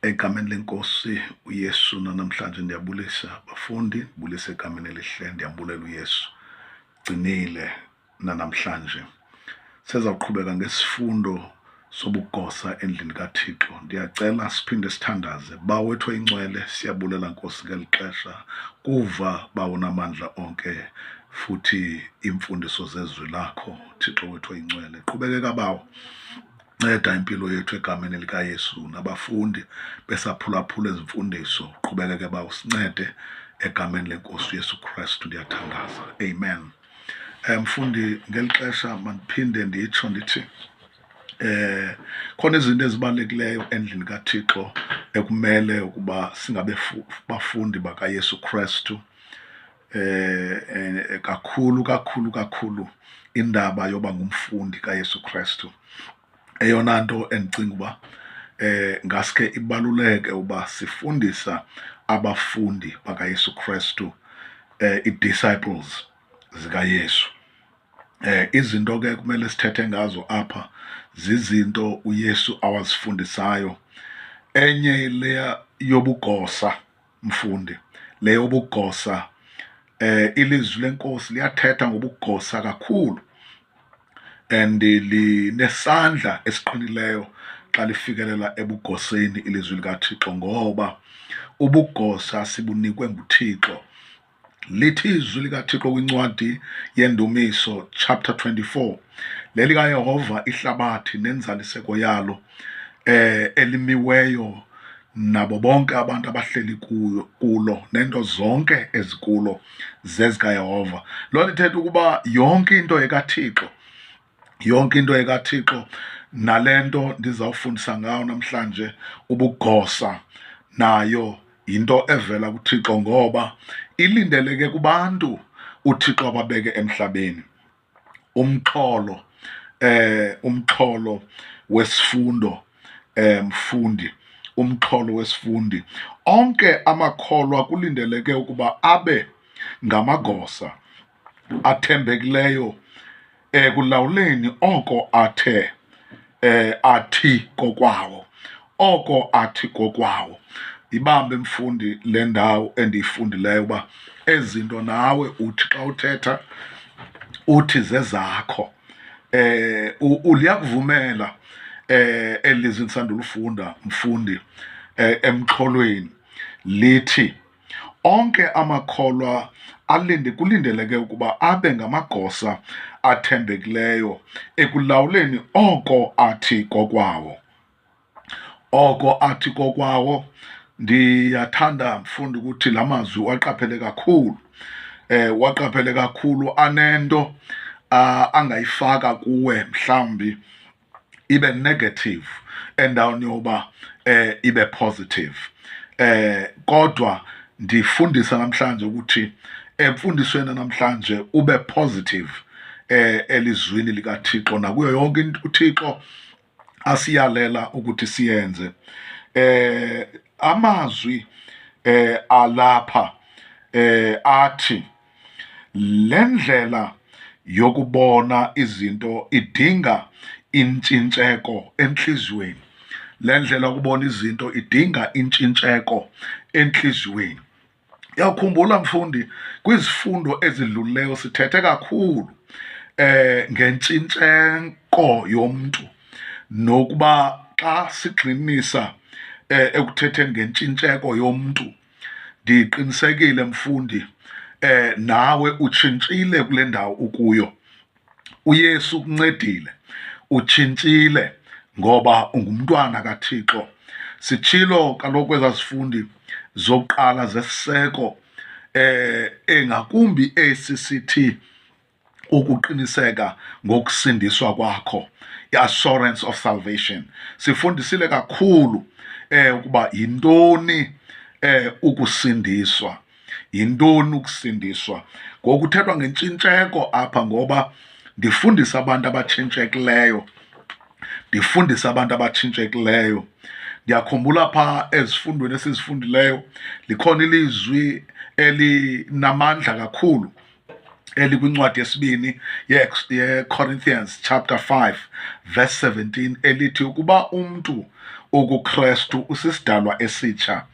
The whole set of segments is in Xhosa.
egameni lenkosi uyesu nanamhlanje ndiyabulisa bafundi ndibulisa egameni elihle ndiyambulela uyesu gcinile nanamhlanje sezawuqhubeka ngesifundo sobugosa endlini kathixo ndiyacela siphinde sithandaze bawethu incwele siyabulela nkosi ngeli xesha kuva bawonamandla onke futhi iimfundiso zezwi lakho thixo wethu oyincwele qhubekeka bawo Nceda impilo yethu egameni likaYesu nabafundi besaphulaphula ezimfundiso uqhubekeke ba usincede egameni lenkosi uYesu Kristu ndiyathandaza amen eh, mfundi ngeli xesha mandiphinde nditsho ndithi eh khona izinto ezibalulekileyo endlini kaThixo ekumele ukuba singabe bafundi bakaYesu Kristu eh, eh kakhulu kakhulu kakhulu indaba yoba ngumfundi kaYesu Kristu eyona nto endicinga uba eh ngaske ibaluleke uba sifundisa abafundi bakaYesu Kristu eh i-disciples zikaYesu eh izinto ke kumele sithethe ngazo apha zizinto uYesu awazifundisayo enye leya yobugosa mfundi le yobugosa eh ilizwi lenkosi liyathetha ngobugosa kakhulu and linesandla esiqinileyo xa lifikelela ebugoseni ilizwi likaThixo ngoba ubugosa sibunikwe nguThixo lithi izwi likathixo kwincwadi yendumiso chapter 24 lelikayehova ihlabathi nenzaliseko yalo eh elimiweyo nabo bonke abantu abahleli kuyo kulo nento zonke ezikulo zezikayehova loo nto ithetha ukuba yonke into yekathixo yonke into ekathixo nale nto ndizawufundisa ngayo namhlanje ubugosa nayo yinto evela kuthixo ngoba ilindeleke kubantu uthixo ababeke emhlabeni umxholo eh umxholo wesifundo eh mfundi umxholo wesifundi onke amakholwa kulindeleke ukuba abe ngamagosa athembekileyo ekulawuleni oko athe eh athi kokwawo oko athi kokwawo ibambe mfundi le ndawo endiyifundileyo uba ezinto nawe uthi xa uthetha uthi zezakho eh uliyakuvumela eh elizwi ndisandulufunda mfundi eh, emxholweni lithi Onke amakholwa alinde kulindeleke ukuba abe ngamagosa athembekileyo ekulawuleni oko athi kokwawo. Oko athi kokwawo ndiyathanda mfundi ukuthi la mazwi waqaphele kakhulu eh waqaphele kakhulu anento angayifaka kuwe mhlawumbi ibe negative endaweni yoba eh ibe positive eh kodwa ndifundisa namhlanje ukuthi emfundisweni namhlanje ube positive eh elizwini likaThixo nakuyo yonke into uThixo asiyalela ukuthi siyenze eh amazwi eh alapha eh athi Le ndlela yokubona izinto idinga intshintsheko entliziyweni. Le ndlela yokubona izinto idinga intshintsheko entliziyweni. Uyawukhumbula mfundi, kwizifundo ezidlulileyo sithethe kakhulu eh ngentshintsheko yomntu nokuba xa sigxinisa eh ekuthetheni ngentshintsheko yomntu ndiqinisekile mfundi eh nawe utshintshile kule ndawo ukuyo uyesu ukuncedile utshintshile ngoba ungumntwana kathixo sitshilo kaloku ezazifundi zokuqala zesiseko eh engakumbi ecct ukuqiniseka ngokusindiswa kwakho i-assurance of salvation sifundisile kakhulu eh ukuba yintoni eh ukusindiswa yintoni ukusindiswa ngokuthethwa ngentshintsheko apha ngoba ndifundisa abantu abatshintshekileyo ndifundisa abantu abatshintshekileyo ndiyakhumbula pha ezifundweni esizifundileyo likhona ilizwi elinamandla kakhulu elikwincwadi yesibini yecorinthians chapter 5 verse 17 elithi ukuba umntu ukukrestu usisidalwa esitsha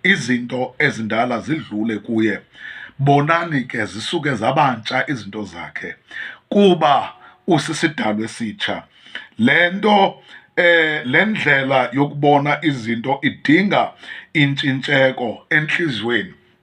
izinto ezindala zidlule kuye bonani ke zisuke zabantsha izinto zakhe kuba usisidalwa esitsha le nto eh le ndlela yokubona izinto idinga intshintsheko enhliziyweni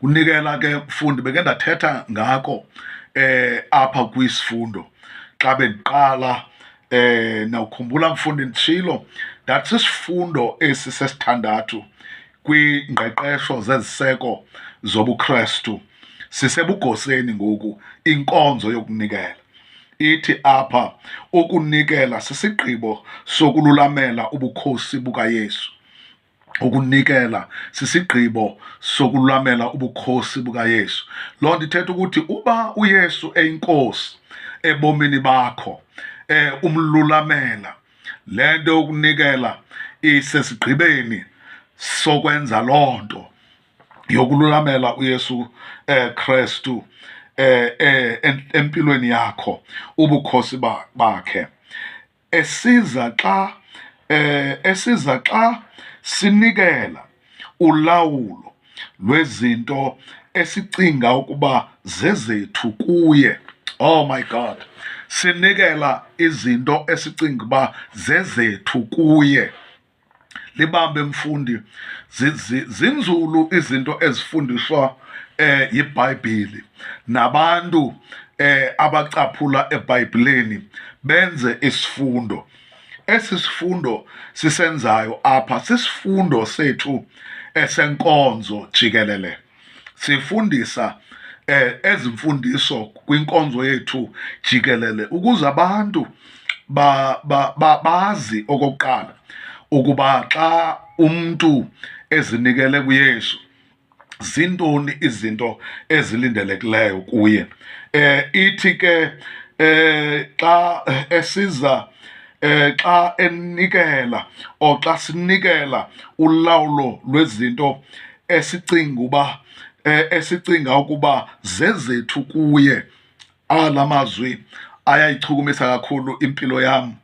kunikela ke mfundi beke ndathetha ngako eh apha kwisifundo xa bendiqala eh nawukhumbula mfundi ndishilo that sisifundo esi sesithandathu kwingqeqesho zeziseko zobuKristu sisebugoseni ngoku inkonzo yokunikela ithi apha ukunikela sisigqibo sokululamela ubukhosi bukaYesu ukunikela sisigqibo sokulwamela ubukhosi bukaYesu. Loo nto ithetha ukuthi uba uYesu eyinkosi ebomini bakho eh umlulamela le nto yokunikela isesigqibeni sokwenza loo nto yokululamela uYesu eh Kristu eh, eh empilweni yakho ubukhosi bakhe esiza xa eh, esiza xa sinikela ulawulo lwezinto esicinga ukuba zezethu kuye. Oh my God. Sinikela izinto esicinga ukuba zezethu kuye. libambe mfundi zinzulu izinto ezifundiswa eh yiBhayibheli nabantu eh abacaphula eBhayibhelini benze isifundo esi sifundo sisenzayo apha sisifundo sethu esenkonzo jikelele sifundisa eh ezimfundiso kwinkonzo yethu jikelele ukuze abantu ba, ba, ba bazi okokuqala ukuba xa umuntu ezinikele kuYesu zintoni izinto ezilindelekileyo kuye eh ithi ke eh xa esiza eh xa enikela oxa sinikela ulawulo lwezinto esicinga uba eh, esicinga ukuba zezethu kuye ala mazwi ayayichukumisa kakhulu impilo yam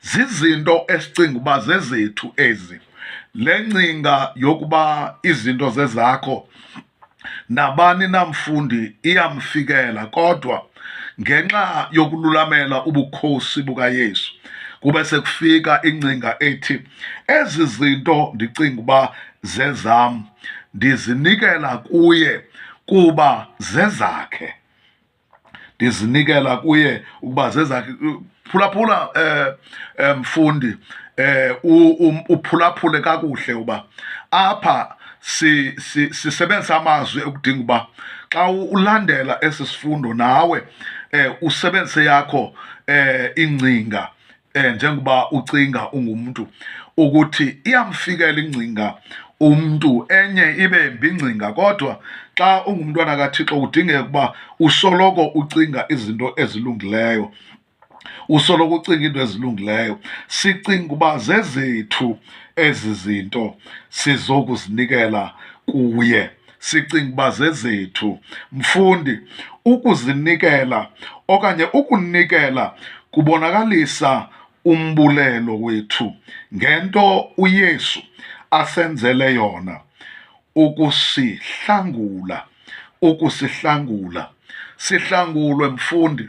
zizinto esicinga uba zezethu ezi le ncinga yokuba izinto zezakho nabani namfundi iyamfikela kodwa ngenxa yokululamela ubukhosi bukaYesu kube sekufika ingcinga ethi Ezi zinto ndicinga uba zezam ndizinikela kuye kuba zezakhe ndizinikela kuye ukuba zezakhe phulaphula eh, eh mfundi eh uphulaphule kakuhle uba apha si sisebenzisa amazwi ekudinga uba xa ulandela esi sifundo nawe eh usebenzise yakho eh ingcinga eh njengoba ucinga ungumntu ukuthi iyamfikela ingcinga umntu enye ibe mbingcinga kodwa xa ungumntwana kaThixo kudingeka ukuba usoloko ucinga izinto ezilungileyo usoloko ucinga into ezilungileyo sicinga uba zezethu ezi zinto sizokuzinikela kuye sicinga uba zezethu. Mfundi, ukuzinikela okanye ukunikela kubonakalisa umbulelo wethu ngento uYesu asenzele yona, ukusihlangula, ukusihlangula. Sihlangulwe mfundi.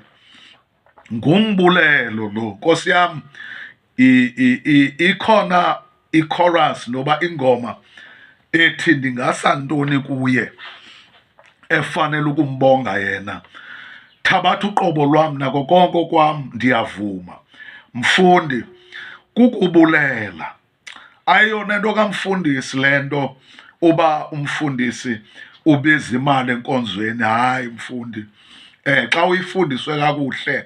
ngumbulelo lo nkosi yam ikhona i-chorus noba ingoma ethi ndingasa ntoni kuye efanele ukumbonga yena thabatha uqobo lwam nako konke kwam ndiyavuma mfundi kukubulela ayiyona nto kamfundisi le nto uba umfundisi ubiza imali enkonzweni hayi mfundi eh xa uyifundiswe kakuhle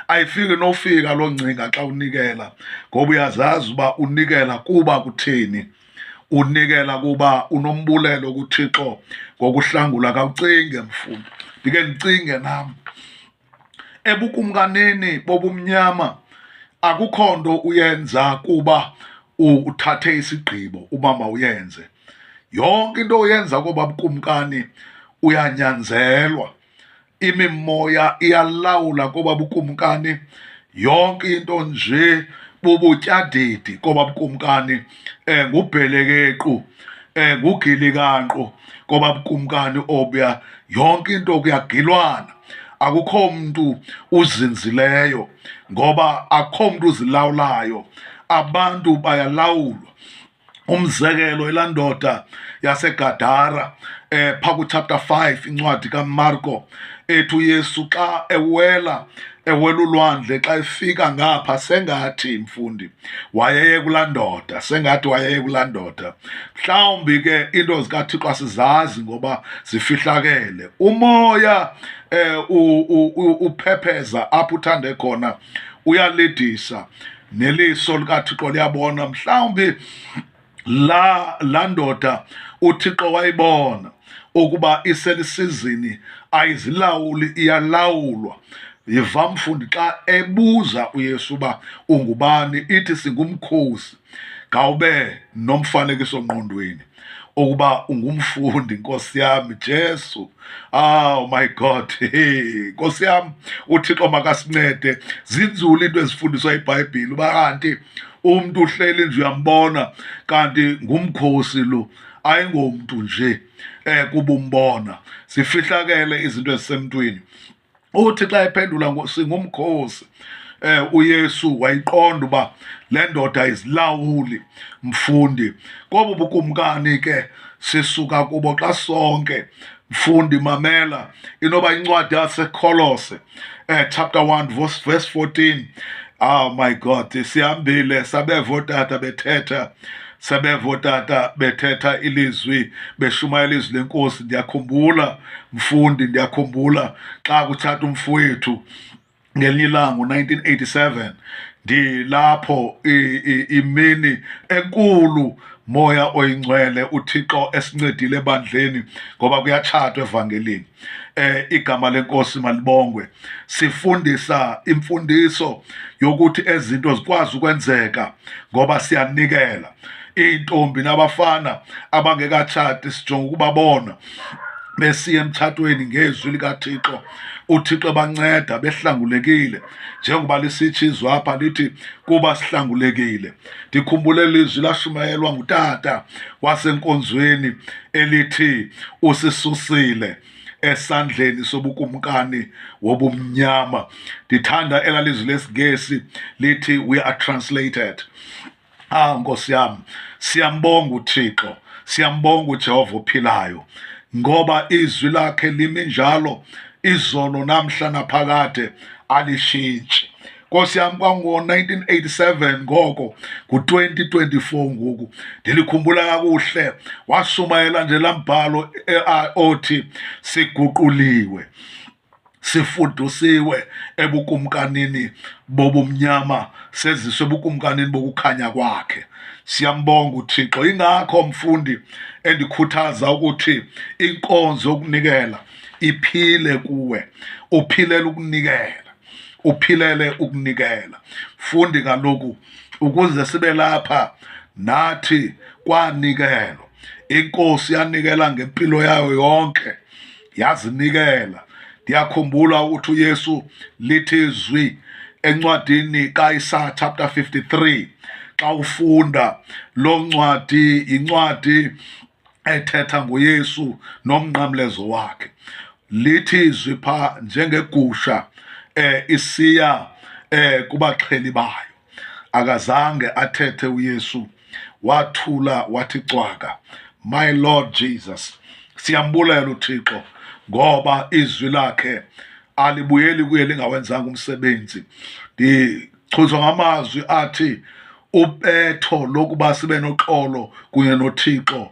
ayifiki nofika loo ngcinga xa unikela ngoba uyazazi uba unikela kuba kuthini unikela kuba unombulelo kuthixo ngokuhlangula kawucinge mfundi ndike ndicinge nam ebukumkanini bobumnyama akukho nto uyenza kuba uthathe isigqibo uba mawuyenze yonke into oyenza koba bukumkani uyanyanzelwa imimoya iyalawula koba bukumkani yonke into nje bubutyadidi koba bukumkani eh ngubhelekequ eh ngugilikanqo ngoba bukumkani obuya yonke into kuyagilwana akukho mntu uzinzileyo ngoba akukho mntu uzilawulayo abantu bayalawulwa umzekelo ilandoda yasegadara eh pha kuchapter 5 incwadi kamarko ethi uYesu xa ewela ewela ulwandle xa efika ngapha sengathi mfundi wayeye kulaa ndoda sengathi wayeye kulaa ndoda mhlawumbi ke iinto zikathixo asizazi ngoba zifihlakele umoya um uphepheza apho uthande khona uyalidisa neliso likathixo liyabona mhlawumbi laa la ndoda uthixo wayibona ukuba iselisizini ayizilawuli iyalawulwa yiva mfundi xa ebuza uyesu uba ungubani ithi singumkhosi ngawube nomfanekiso ngqondweni ukuba ungumfundi nkosi yami jesu oh my god hey nkosi yami uthixo makasincede zinzulu into ezifundiswa ibhayibhile uba kanti umntu uhleli nje uyambona kanti ngumkhosi lo ayingomntu nje eh kubumbona sifihlakele izinto ezisemntwini uthi xa ephendula singumkhosi eh uYesu wayiqonda uba le ndoda izilawuli mfundi kobu bukumkani ke sisuka kubo xa sonke mfundi mamela inoba incwadi yasekholose eh, chapter 1 verse, verse 14 oh ah, my god sihambile sabeva otata bethetha sebeva otata bethetha ilizwi beshumayela izwi lenkosi ndiyakhumbula mfundi ndiyakhumbula xa kutshata umfowethu ngelinye ilanga ngo-1987 ndilapho imini enkulu moya oyingcwele uthixo esincedile ebandleni ngoba kuyatshatwa evangelini eh igama lenkosi malibongwe sifundisa imfundiso yokuthi ezinto zikwazi ukwenzeka ngoba siyanikela iintombi nabafana abangekatshati sijonga ukubabona besiya emtshatweni ngezwi likathixo uthixo ebanceda behlangulekile njengoba lisitsho izwi apha lithi kuba sihlangulekile ndikhumbule lizwi lashumayelwa ngutata wasenkonzweni elithi usisusile esandleni sobukumkani wobumnyama ndithanda elalizwi lesingesi lithi we are translated Ah Nkosi yam, siyambonga uThixo, siyambonga uJehova ophilayo ngoba izwi lakhe limi njalo izolo namhla naphakade alishintshi nkosi yam kwango-1987 ngoko ngu-2024 ngoku ndilikhumbula kakuhle washumayela nje laa mbhalo eh, othi siguquliwe sifudusiwe ebukumkanini bobumnyama seziswe ebukumkanini bokukhanya kwakhe siyambonga uthixo ingakho mfundi endikhuthaza ukuthi inkonzo yokunikela iphile kuwe uphilela ukunikela uphilele ukunikela fundi kaloku ukuze sibe lapha nathi kwanikelwa inkosi yanikela ngempilo yayo yonke yazinikela ndiyakhumbula ukuthi uyesu lithi zwi encwadini kaisaya chapter 53 xa ufunda lo ncwadi yincwadi ethetha ngoyesu nomnqamlezo wakhe lithi izwi pha njengegusha um isiya um kubaxheli bayo akazange athethe uyesu wathula wathi cwaka my lord jesus siyambulela uthixo ngoba izwi lakhe alibuyeli kuye lingawenzanga umsebenzi ndichuzwa ngamazwi athi ubetho lokuba sibe noxolo kunye nothixo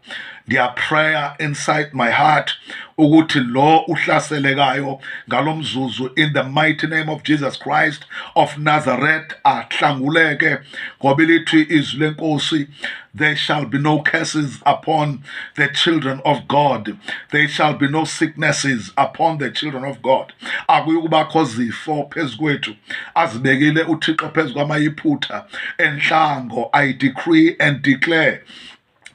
ndiyaprayer inside my heart ukuthi lo uhlaselekayo ngalo mzuzu in the mighty name of jesus christ of nazareth ahlanguleke ngoba lithi izwi lenkosi there shall be no curses upon the children of god there shall be no sicknesses upon the children of god akuyukubakho zifo phezu kwethu azibekile uthixo phezu kwamayiphutha entlango i decree and declare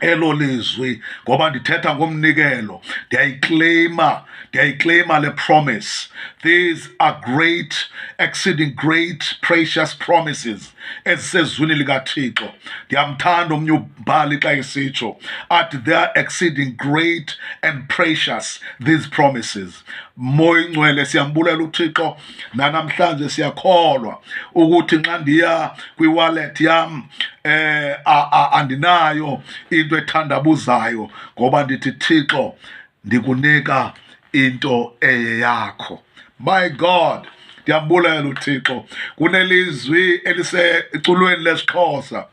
elo lizwi ngoba ndithetha ngomnikelo ndiyayikleyima ndiyayikleyima le promise these are great exceeding great precious promises ezisezwini likathixo ndiyamthanda omnye umbhali xa esitsho athi they are exceeding great and precious these promises moya ingcwele siyambulela uthixo nanamhlanje siyakholwa ukuthi nxa ndiya kwiwallet yam eh andinayo into ethandabuzayo ngoba ndithi thixo ndikunika into eye yakho my god ndiyambulela uthixo kunelizwi eliseculweni lesixhosa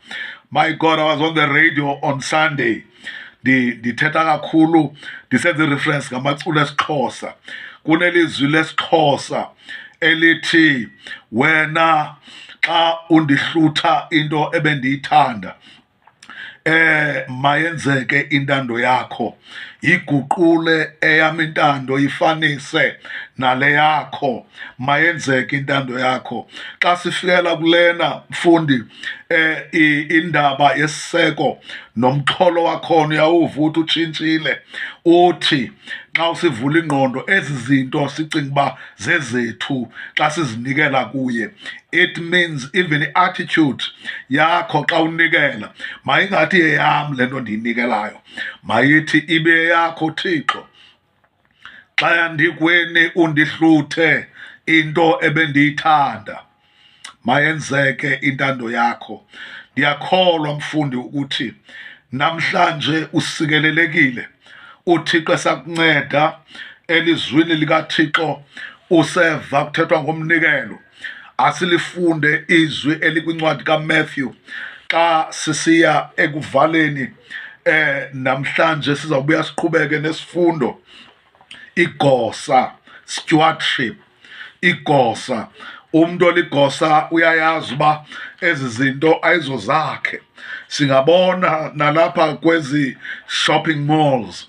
my god i was on the radio on sunday ndithetha kakhulu ndisenze ireference ngamaculo esixhosa kunelizwi lesixhosa elithi wena xa undihlutha into ebendiyithanda eh mayenzeke intando yakho iguqule eyam intando ifanise nale yakho mayenzeke intando yakho xa sifikela kulena mfundi eh indaba yesiseko nomxholo wakhona uyawuva uthi utshintshile uthi xa usivula ingqondo ezi zinto sicinga uba zezethu xa sizinikela kuye it means even i-attitude yakho xa unikela mayingathi yeyam le nto ndiyinikelayo mayithi ibe yakho thixo xa yandikweni undihluthe into ebendiyithanda mayenzeke intando yakho ndiyakholwa mfundi ukuthi namhlanje usikelelekile uthixo esakunceda elizwini likathixo useva kuthethwa ngomnikelo asilifunde izwi elikwincwadi kaMatthew xa sisiya ekuvaleni eh namhlanje sizawubuya siqhubeke nesifundo igosa stewardship igosa umuntu oligosa uyayazi uba ezi zinto ayizo zakhe singabona nalapha kwezi shopping malls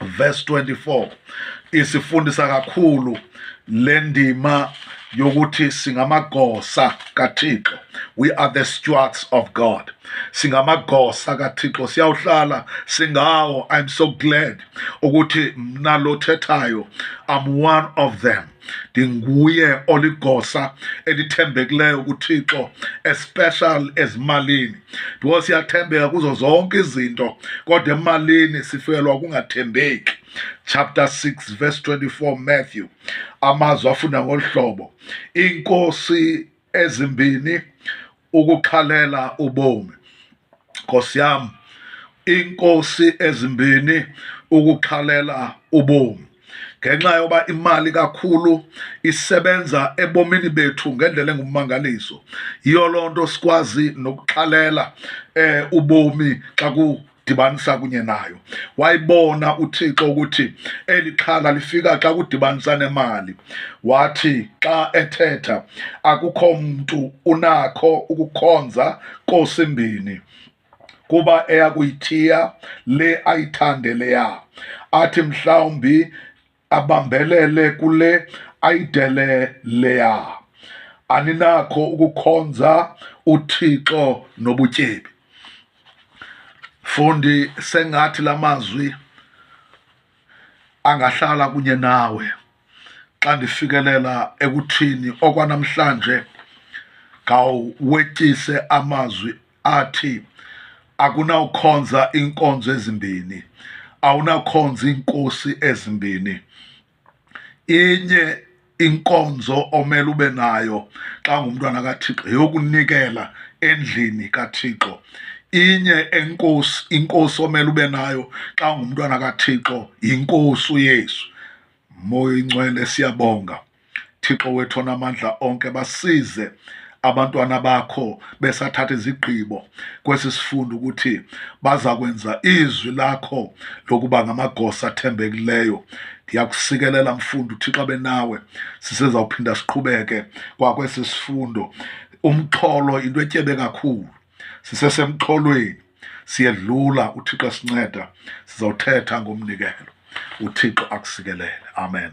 verse 24 isifundisa kakhulu le ndima yokuthi singamagosa kaThixo we are the stewards of God singamagosa kaThixo siyawuhlala singawo i'm so glad ukuthi mna lothethayo i'm one of them ndinguye oligosa elithembekileyo kuthixo especial ezimalini because siyathembeka kuzo zonke izinto kodwa emalini sifelwa kungathembeki chapter 6 verse 24 matthew amazwi afunda ngolu hlobo inkosi ezimbini ukukhalela ubomi nkosi yam iinkosi ezimbini ukukhalela ubomi ngenxa yoba imali kakhulu isebenza ebomini bethu ngendlela engummangaliso yiyo loo nto sikwazi nokuxhalela um ubomi xa ku dibanisa kunye nayo wayibona uthixo ukuthi eli xhala lifika xa kudibanisa nemali wathi xa ethetha akukho mntu unakho ukukhonza kosimbini kuba eyakuyithiya le ayithande leya athi mhlawumbi abambelele kule ayidele leya aninakho ukukhonza uthixo nobutyebi fundi sengathi la mazwi angahlala kunye nawe xa ndifikelela ekuthini okwanamhlanje ngawuwetyise amazwi athi akunawukhonza iinkonzo ezimbini awunakhonza iinkosi ezimbini inye inkonzo omele ube nayo xa ngumntwana kathixo yokunikela endlini kathixo inye enkosi inkosi omele ube nayo xa ngumntwana kathixo yinkosi uyesu moya ingcwele siyabonga Thixo wethu onamandla onke basize abantwana bakho besathatha izigqibo kwesi sifundo ukuthi baza kwenza izwi lakho lokuba ngamagosa athembekileyo ndiyakusikelela mfundo uthixo benawe sisezawuphinda siqhubeke kwakwesi sifundo umxholo into etyebe kakhulu sisesemxholweni siyedlula uthixo esinceda sizawuthetha ngomnikelo uthixo akusikelele amen